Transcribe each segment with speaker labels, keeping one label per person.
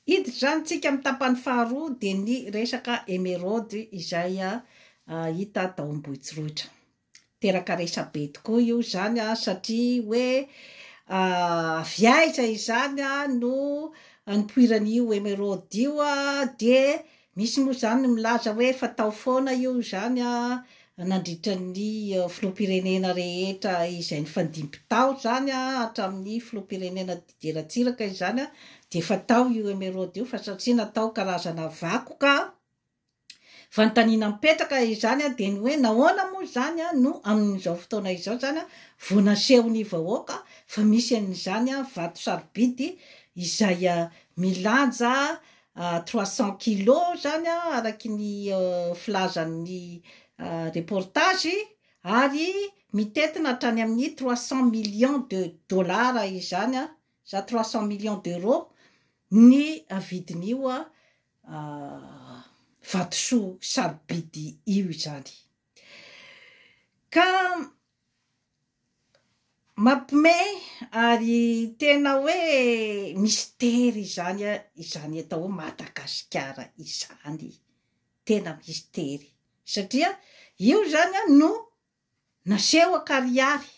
Speaker 1: Hiditra izany tsika amin'ny tapany faharoa dia ny resaka emeraude izay hita tao Ambohitsorohitra. Teraka resabe tokoa io izany satria hoe avy aiza izany no nipoiran'io emeraude io dia Misy moa izany ny milaza hoe fatao foana io izany nandritra ny filoham-pirenena rehetra izay nifandimby tao izany hatramin'ny filoham-pirenena Didier Ratsiraka izany dia fatao io emeraude io fa satria natao karazana vakoka fanontaniana mipetraka izany dia ny hoe nahoana moa izany no amin'izao fotoana izao izany vao nasehon'ny vahoaka fa misy an'izany vato sarobidy izay milanja trois cents kilos zany araky ny filazan'ny reportage ary mitentina hatrany amin'ny trois cents millions de dollars izany za trois cents millions d'euros ny vidin'io vatosoa sarobidy io izany. Ka mampme ary tena hoe mistery izany a izany atao hoe Madagasikara izany tena mistery satria io zany a no naseho akarihary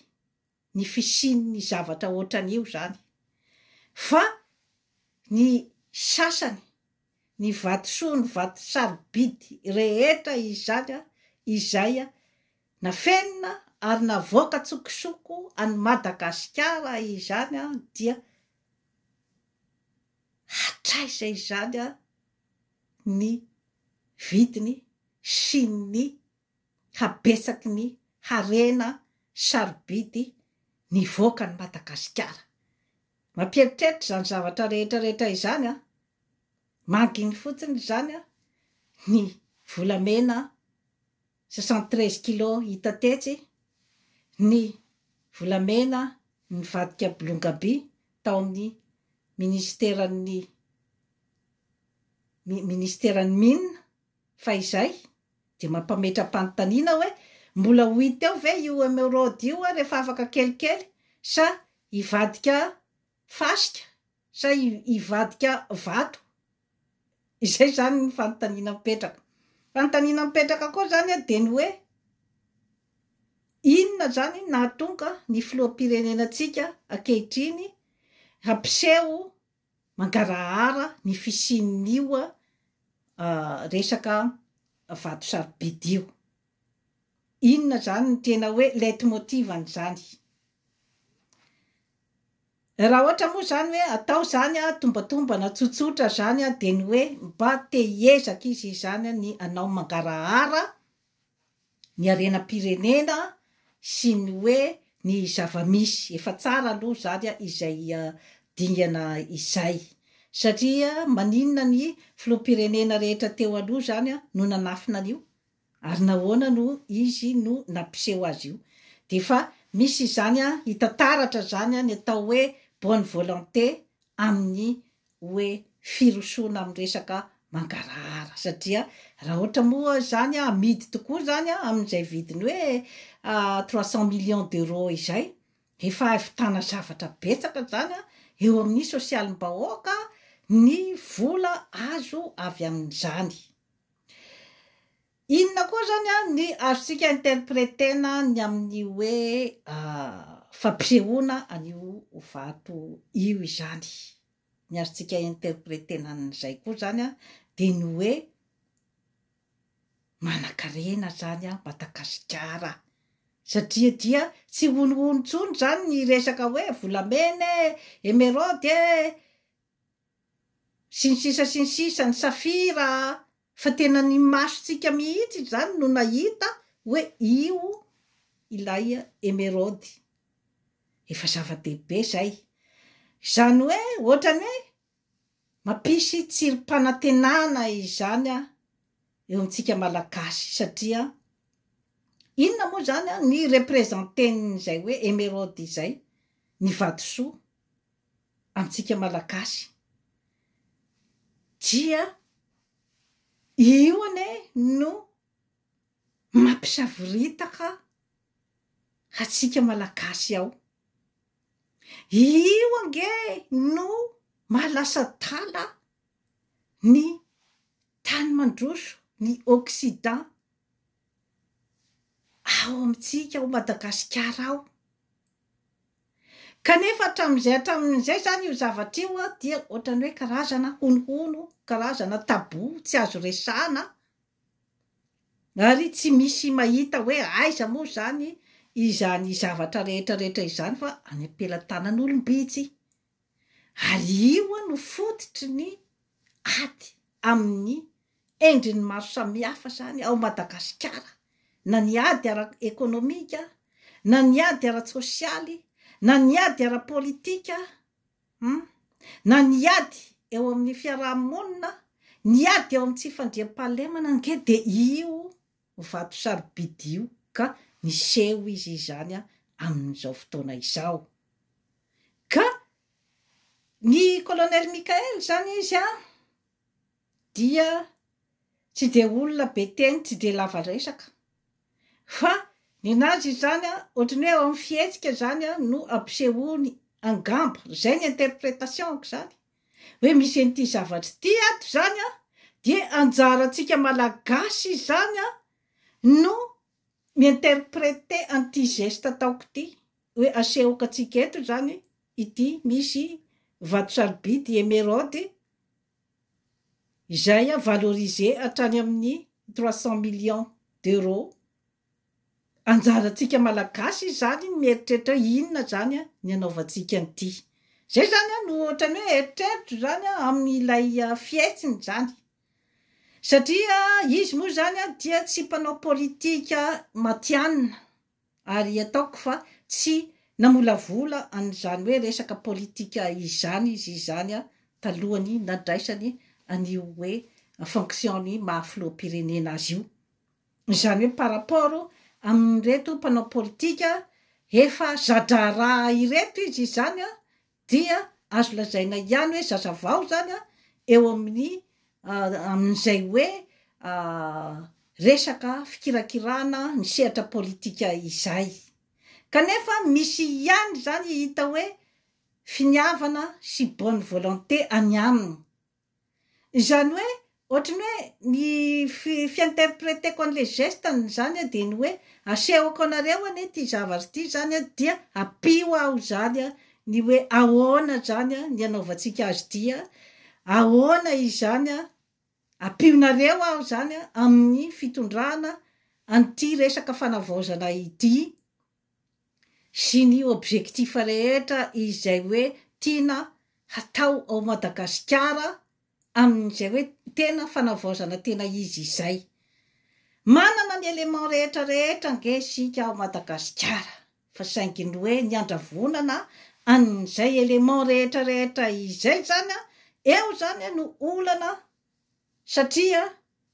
Speaker 1: ny fisian'ny zavatra ohatran'io izany fa ny sasany, ny vatosoa, ny vato sarobidy rehetra izany izay nafenina ary navoaka an-tsokosoko an'i Madagasikara izany dia hatraiza izany ny vidiny sy ny habetsaky ny harena sarobidy nivoaka an'i Madagasikara. Mampieritreritra izany zavatra rehetra rehetra izany an! Manginy fotsiny izany an! Ny volamena 73 kilos hita tetsy, ny volamena nivadika bolongaby tao amin'ny minisiteran'ny mi- minisiteran'ny Mines, Fa izay dia mampametra-panontaniana hoe mbola ho hita eo ve io emeraude io rehefa afaka kelikely sa hivadika fasika sa hivadika vato? Izay izany ny fanontaniana mipetraka. Fanontaniana mipetraka koa izany dia ny hoe inona izany nahatonga ny filoham-pirenenantsika ankehitriny hampiseho mangarahara ny fisian'io resaka vato sarobidy io. Inona izany ny tena hoe leitmotiv an'izany? Raha ohatra moa izany hoe atao izany a, tombatombana tsotsotra izany a, dia ny hoe mba te hiezaka izy izany ny hanao mangarahara ny harenam-pirenena sy ny hoe ny zava-misy. Efa tsara aloha izany izay dingana izay. Satria maninona ny filoham-pirenena rehetra teo aloha izany no nanafina an'io? Ary nahoana no izy no nampiseho azy io? Dia efa misy izany hita taratra izany ny atao hoe bonne volonté amin'ny hoe firosoana amin'ny resaka mangarahara satria raha ohatra moa izany amidy tokoa izany amin'izay vidiny hoe trois cent millions d'euros izay, efa hahavitana zavatra betsaka izany eo amin'ny sosialim-bahoaka ny vola azo avy amin'izany. Inona koa izany ny azontsika interpreter-na ny amin'ny hoe fampisehoana an'io vato io izany? Ny azontsika interpreter-na an'izay koa izany dia ny hoe manankarena izany Madagasikara satria dia tsy honohono intsony izany ny resaka hoe volamena e, emeraude e, Sy ny sisa sy ny sisa, ny safira a! Fa tena ny masontsika mihitsy izany no nahita hoe io ilay emeraude. Efa zava-dehibe izay. Izany hoe ohatrany hoe mampisy tsirim-panantenana izany eo amintsika Malagasy satria inona moa izany ny representen'izay hoe emeraude izay? Ny vatosoa. antsika malagasy dia io anie no mampisavoritaka antsika malagasy ao, io ange no maha lasa adala ny tany mandroso ny occident ao amintsika ao Madagasikara ao. Kanefa hatramin'izay hatramin'izay izany io zavatra io dia ohatran'ny hoe karazana honohono, karazana tabou, tsy azo resahana ary tsy misy mahita hoe aiza moa izany izany zavatra rehetra rehetra izany fa any am-pelatanan'olom-bitsy ary io no fototry ny ady amin'ny endriny maro samihafa izany ao Madagasikara, na ny ady ara-ekonomika, na ny ady ara-tsosialy, na ny ady ara-politika, na ny ady eo amin'ny fiaraha-monina, ny ady eo amin'ny tsy fandriampahalemana ange dia io. vato sarobidy io ka niseho izy izany amin'izao fotoana izao. Ka ny Colonel Michael izany izy dia tsy dia olona be teny, tsy dia lava resaka. Fa ninazy izany ohatran'ny hoe ao amin'ny fihetsika izany no ampisehoany angamba, izay ny interpretation-ko izany, hoe misy an'ity zavatra ity ato izany an, dia anjarantsika Malagasy izany an no mi-interpreter an'ity geste ataoko ity, hoe asehoko antsika eto izany ity misy vato sarobidy emeraude izay valorisé hatrany amin'ny trois cents millions d'euros. Anjarantsika malagasy izany ny mieritreritra hoe inona izany ny anaovantsika an'ity. Izay izany no ohatran'ny hoe eritreritro izany amin'ilay fihetsiny izany. Satria izy moa izany dia tsy mpanao politika matihanina, ary ataoko fa tsy namolavola an'izany hoe resaka politika izany izy izany talohan'ny nadraisany an'io hoe fonction-ny maha filoham-pirenena azy io. Izany hoe par rapport amin'ireto mpanao politika efa za-draharaha ireto izy izany dia azo lazaina ihany hoe zaza vao izany eo amin'ny amin'izay hoe resaka fikirakirana ny sehatra politika izay. Kanefa misy ihany izany hita hoe finiavana sy bonne volonté any aminy. Izany hoe ohatry ny hoe ny fi-interpreteko an'ilay geste ny zany a dia ny hoe asehoko anareo anie ity zavatra ity zany a dia ampio aho izany a ny hoe ahoana izany a ny anaovantsika azy ity a ahoana izany a ampionareo aho izany a amin'ny fitondrana an'ity resaka fanavaozana ity sy ny objectif rehetra izay hoe tiana hatao ao Madagasikara amin'izay hoe tena fanavaozana tena izy izay. Manana ny éléments rehetra rehetra ange isika ao Madagasikara fa saingy ny hoe ny handravonana an'izay éléments rehetra rehetra izay izany eo izany no olana Satria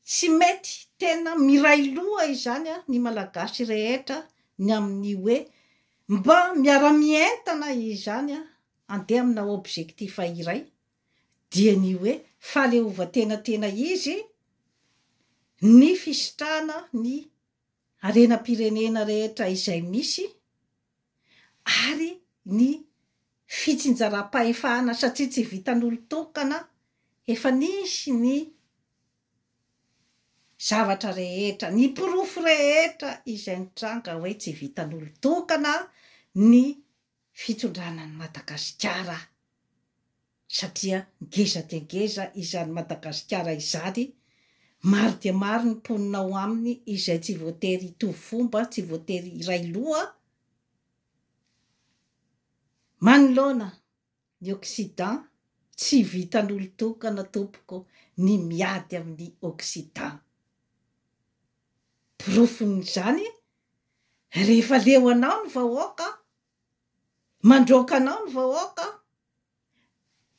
Speaker 1: tsy mety tena miray loha izany ny Malagasy rehetra ny amin'ny hoe mba miara-mientana izany handeha amina objectif iray dia ny hoe fahaleovantena tena izy ny fisitrahana ny harenam-pirenena rehetra izay misy ary ny fitsinjaram-pahefana satria tsy vitan'olon-tokana efa nisy ny zavatra rehetra, ny porofo rehetra izay nitranga hoe tsy vitan'olon-tokana ny fitondrana an'i Madagasikara. satria ngeza dia ngeza izany Madagasikara izany, maro dia maro ny mponina ao aminy izay tsy voatery hitovy fomba, tsy voatery hiray loha, manoloana ny occident tsy vitan'olon-tokana tompoko ny miady amin'ny occident, porofon'izany rehefa leo anao ny vahoaka, Mandroaka anao ny vahoaka,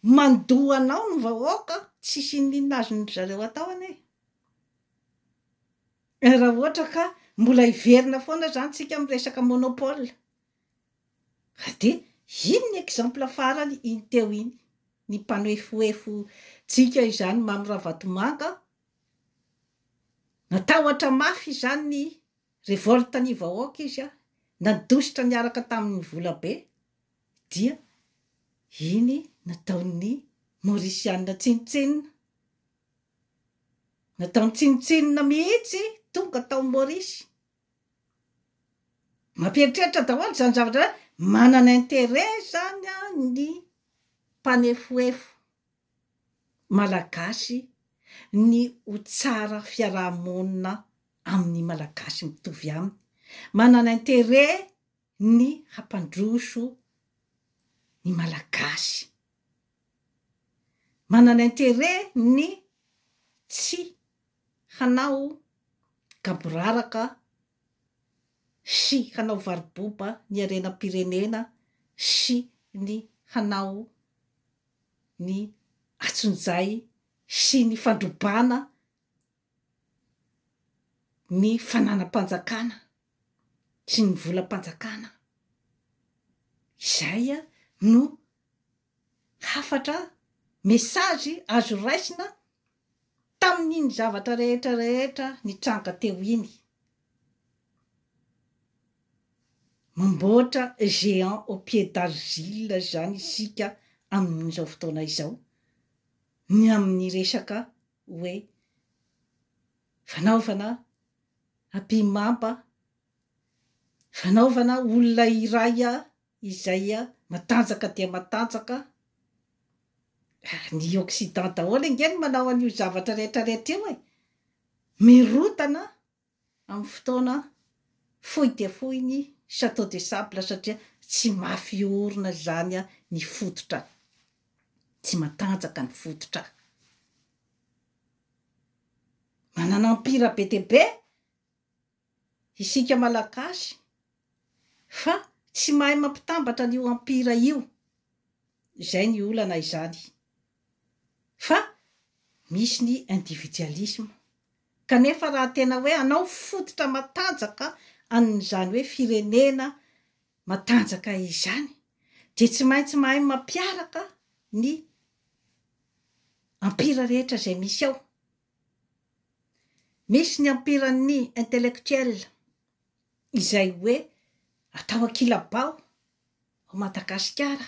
Speaker 1: mandoa anao ny vahoaka, tsisy inona inona azon-dry zareo atao anie e! Raha ohatra ka mbola hiverina foana izany tsika amin'ny resaka monopole, ka dia iny ny exemple farany iny teo iny, ny mpanoefoefo tsika izany Mamy Ravatomanga, natahotra mafy izany ny Revolte ny vahoaka izy a! Nandositra niaraka tamin'ny volabe dia iny nataon'ny Mauriciana tsinontsinona. Nataony tsinontsinona mihitsy tonga tao Maurice. Mampieritreritra daholo izany zavatra izany, manana intérêt izany ny mpanefoefo Malagasy ny ho tsara fiaraha-monina amin'ny Malagasy mitovy aminy, manana intérêt ny hampandroso ny Malagasy, manana intérêt ny tsy hanao gaboraraka sy hanao varo-boba ny harenam-pirenena sy ny hanao ny atsonjay sy ny fandrobana ny fananam-panjakana sy ny volam-panjakana izay no hafatra, message, azo raisina. Tamin'iny zavatra rehetra rehetra nitranga teo iny. Mamboatra géant au pied d'argile izany isika amin'izao fotoana izao ny amin'ny resaka hoe fanaovana apimamba, fanaovana olona iray izay matanjaka dia matanjaka ary ny occident daholo ange no manao an'io zavatra rehetra rehetra io e! mirotana amin'ny fotoana fohy dia fohy ny chateau de sable satria tsy mafy orina izany ny fototra tsy matanjaka ny fototra manana empire be dia be isika malagasy fa tsy mahay mampitambatra an'io empire io, izay ny olana izany fa misy ny individualisme kanefa raha tena hoe hanao fototra matanjaka an'izany hoe firenena matanjaka izany dia tsy maintsy mahay mampiaraka ny empire rehetra izay misy ao. Misy ny ampiran'ny intellectuel izay hoe atao ankilabao ao Madagasikara.